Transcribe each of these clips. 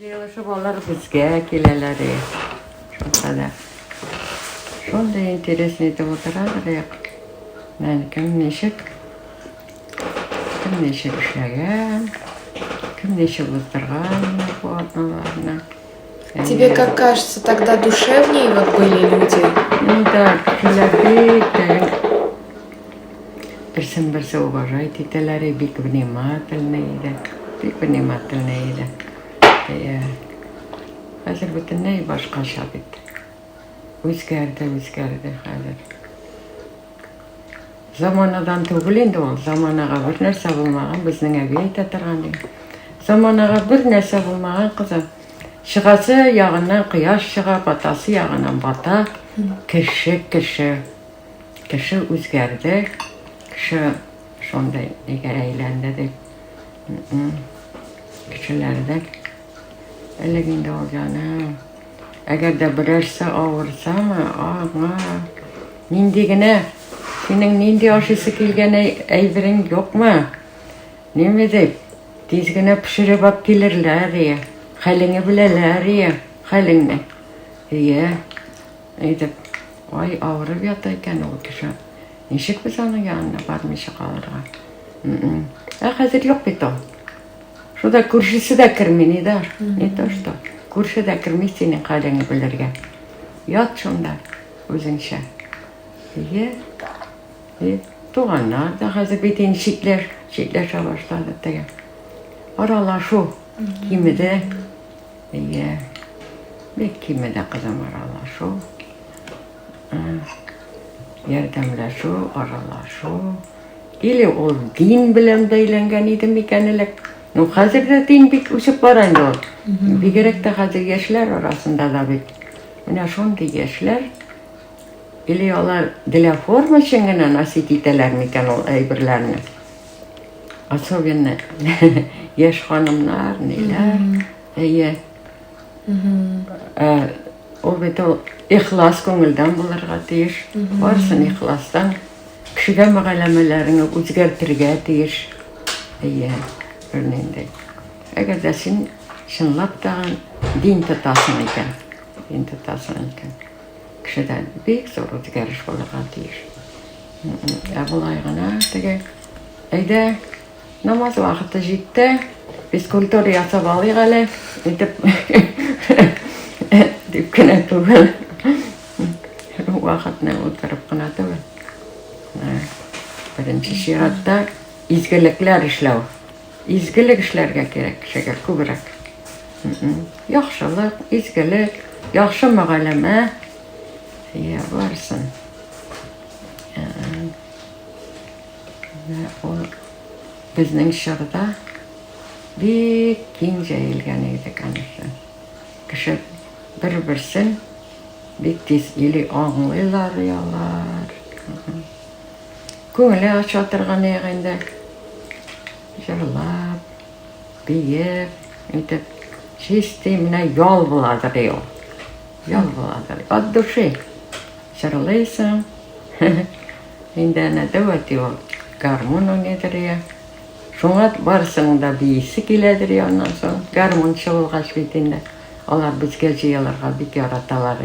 Җыелышып алар безгә киләләр и. Шулкадәр. Шундый интересный итеп утыралар и. Менә кем ничек, кем ничек эшләгән, кем ничек уздырган менә бу атналарны. Тебе Әйе. как кажется, тогда душевнее вот были люди? Ну да, кешеләр бик тә Берсен-берсе уважать итәләр и бик внимательный иде. Бик внимательный иде. Әйе. Хәзер бөтенләй башкача бит. Үзгәрде, үзгәрде хәзер. Заманадан түгел инде ул. Заманага бер нәрсә булмаган, безнең әби әйтә торган ди. Заманага бер нәрсә булмаган кызым. Чыгасы ягыннан кояш чыга, батасы ягыннан бата. Кеше, кеше. Кеше үзгәрде, кеше шундый нигә әйләнде дип, кешеләрдә элек инде ул җаным. Әгәр дә берәрсе авырсамы, ага, нинди генә, синең нинди ашыйсы килгән әйберең юкмы? Неме дип, тиз генә пешереп алып килерләр, ие. Хәлеңне беләләр, ие, хәлеңне. Ие. Әйтеп, Ай, авырып ята икән ул кеше. Ничек без аның янына бармыйча калырга? М-м. Ә хәзер юк бит ул. Шуда күршесе дә керми, ни да, не то что. Күрше дә керми синең хәлеңне белергә. Ят шунда үзеңчә. Ие. И туганнар да хәзер бит инде читләш, читләшә башлады теге. Аралашу кимеде. Әйе, бик кимеде кызым аралашу, ярдәмләшү, аралашу. Или ул дин белән бәйләнгән иде микән элек? Ну, хәзер дә дин бик үсеп бара инде ул. Бигрәк тә хәзер яшьләр арасында да бит. Менә шундый яшьләр или алар для формы өчен генә носить итәләр микән ул әйберләрне? Особенно яшь ханымнар, ниләр. Әйе. Э, ул бит ул ихлас күңелдән булырга тиеш. Барсын ихластан. Кешегә мәгәләмәләреңне үзгәртергә тиеш. Әйе, бернинди. Әгәр дә син чынлап та дин тотасың икән, дин тотасың икән. Кешедә бик зур үзгәреш булырга тиеш. Ә болай гына теге, әйдә, намаз вакыты җитте, физкультура ясап алыйк әле, итеп, дип кенә түгел. Вакытны утырып кына түгел. Беренче чиратта изгелекләр эшләү. Изгелек эшләргә кирәк кешегә күбрәк. Яхшылык, изгелек, яхшы мөгаләмә. Я барсын. Ул безнең чорда бик киң җәелгән иде, конечно. Кеше бер-берсен бик тиз или аңлыйлар, или алар. Күңеле ача торган ягы инде. Җырлап, биеп, итеп, чистый менә ял буладыр ул. Ял буладыр. От души. Җырлыйсың. Инде әнә дәвәт ул. Гармун уйныйдыр я. Шуңа барсың да биисе киләдер я аннан соң. Гармунчы булгач бит инде. Алар безгә җыелырга бик яраталар.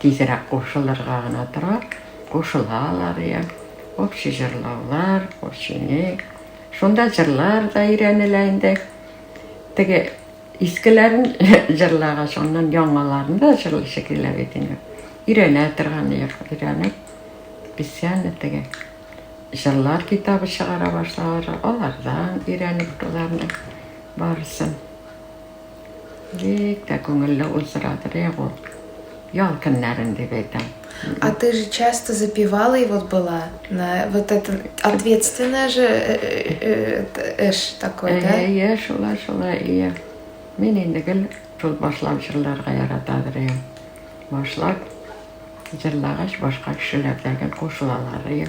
Тизрәк кушылырга гына тора, кушылалар я. Общий җырлаулар, общийник. Шунда җырлар да өйрәнелә инде. Теге искеләрен җырлагач, аннан яңаларын да җырлыйсы килә бит инде. Өйрәнә торган йыр, өйрәнеп, песяне теге җырлар китабы чыгара башлалар, алардан өйрәнеп боларны барысын. Бик тә күңелле уздырадыр, я бу ял көннәрен дип әйтәм. А ты же часто запивала и вот была на вот это ответственное же э, э, э, эш такой, да? Иә, шулай, шулай, иә. Мин инде гел шул башлап җырларга яратадыр иә. Башлап җырлагач башка кешеләрдән кушылалар иә.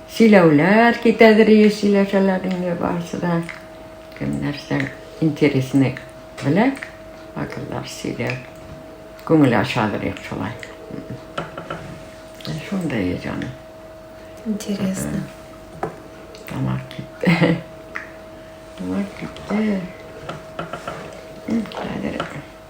Сөйләүләр китәдер ие сөйләшәләр инде барысы да. Кем нәрсә интересный белә, акыллар сөйләр. Күңел ашадыр ек шулай. Шундай ие җаны. Интересно. Тамак китте. Тамак китте. Хәзер